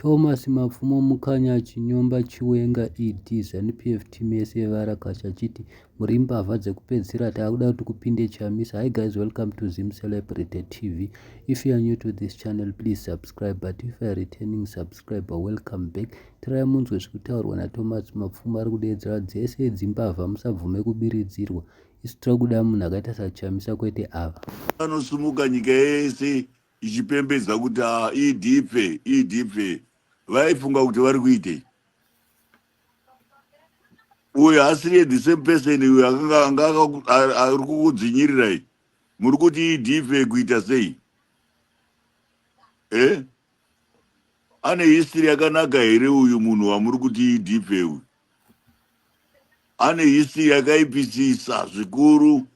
Thomas Mapfumo Mukanya achinyomba Chiwenga ED Zanu-PF team yese yevaRakashi achiti muri mbavha dzekupedzisira taakuda kuti kupinde Chamisa. Hi guys welcome to Zim Celebrity TV. If you are new to this channel please subscribe but if you are returning subscriber welcome back. Tirai munzwe zvikutaurwa naThomas Mapfumo ari kudeedzera dzese idzi mbavha musabvume kubiridzirwa. Isu tiri kuda munhu akaita saChamisa kwete ava. Vanosimuka nyika yese ichipembedza kuti ah, idipfe idipfe vaifunga kuti vari kuitei uyo asiri the same person uyo akanga anga ari kukudzinyirirai muri kuti idipfe kuita sei e eh? ane history yakanaka here uyu munhu wamuri kuti idipfe uyu ane history yakaipisisa zvikuru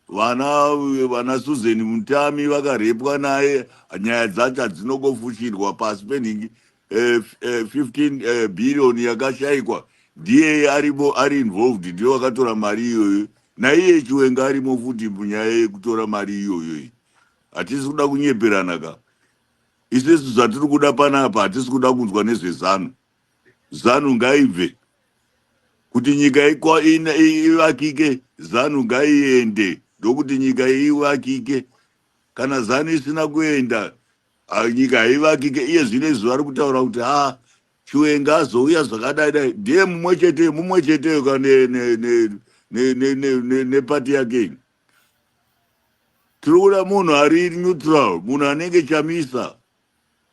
vana vana susan mutami vakarepwa naye nyaya dzacho hadzinongofushirwa pasi penhingi eh, eh, 15 eh, billion yakashaikwa ndiye arimo ari involved ndiye wakatora mari iyoyo naiye chiwenga arimo futi munyaya yekutora mari iyoyo iyi hatisi kuda kunyeperana ka isu isu zvatiri kuda panapa hatisi kuda kunzwa nezvezanu zanu ngaibve kuti nyika ivakike zanu ngaiende ndokuti nyika ivakike kana zanu isina kuenda nyika haivakike iye zvino izvi vari kutaura kuti ha chiwenga azouya zvakadai dai ndiye mumwe chete mumwe cheteyo ka nepati yake tiri kuda munhu ari neutral munhu anenge chamisa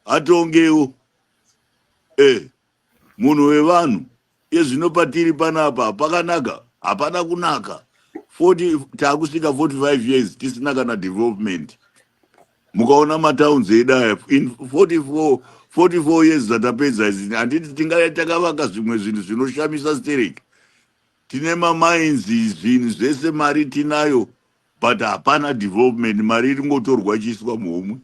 atongewo eh munhu wevanhu ezvino patiri panapa pakanaka hapana kunaka 40 takusvika 45 years tisina kana development mukaona matowns edu aya in 44 44 years dzatapedza izi handiti tingaya takavaka zvimwe zvinhu zvinoshamisa stereki tine mamainzi zvinhu zvese mari tinayo but hapana development mari iringotorwa chiiswa muhomwe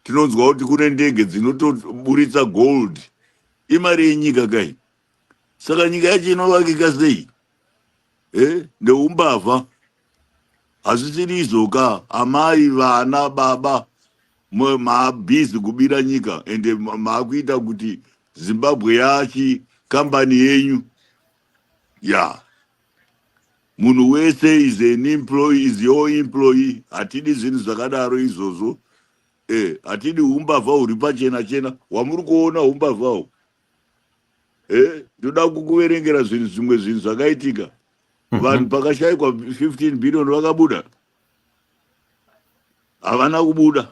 Tinonzwa kuti kune ndege dzinotoburitsa gold. Imari yenyika kai. Saka nyika yacho inovakika sei? Eh, ndeumbavha. Hazvisiri izvoka amai vana baba maabhizi kubira nyika ende maakuita kuti Zimbabwe yachi kambani yenyu. Yeah. munhu wese is an employee is your employee hatidi zvinhu zvakadaro izvozvo eh hatidi umbavha huri pachena chena wamuri kuona umbavhawo eh ndoda kukuverengera zvinhu zvimwe zvinhu zvakaitika mhm. vanhu pakashaikwa 15 billion vakabuda havana kubuda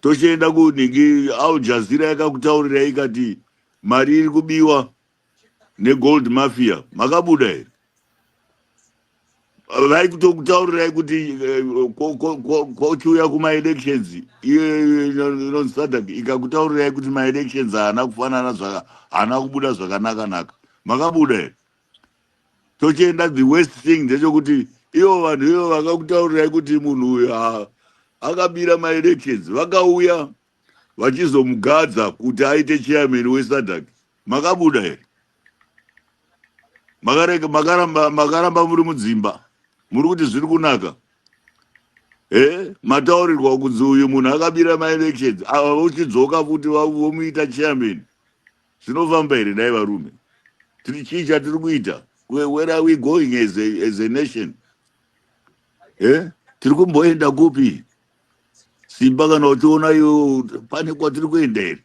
tochienda kunhingi al jazeera yakakutaurirai ikati mari iri kubiwa negold mafia makabuda here vari kutokutaurirai kuti eh, kochiuya kumaelections inonzisadak ikakutaurirai kuti maelections haana kufanana zvaka haana kubuda zvakanaka naka makabuda here tochienda the west thing ndechokuti ivo vanhu ivo vakakutaurirai kuti munhu uyu akabira maelections vakauya vachizomugadza kuti aite chairman wesadak makabuda here makaramba makaramba muri mudzimba muri kuti zviri kunaka he mataurirwa kunzi uyu munhu akabira maelections ava vochidzoka futi vomuita chairman zvinofamba here dai varume tiri chii chatiri kuita where are we going as a, as a nation he tiri kumboenda kupi Simba kana uchiona iwe pane kwatiri kuenda here?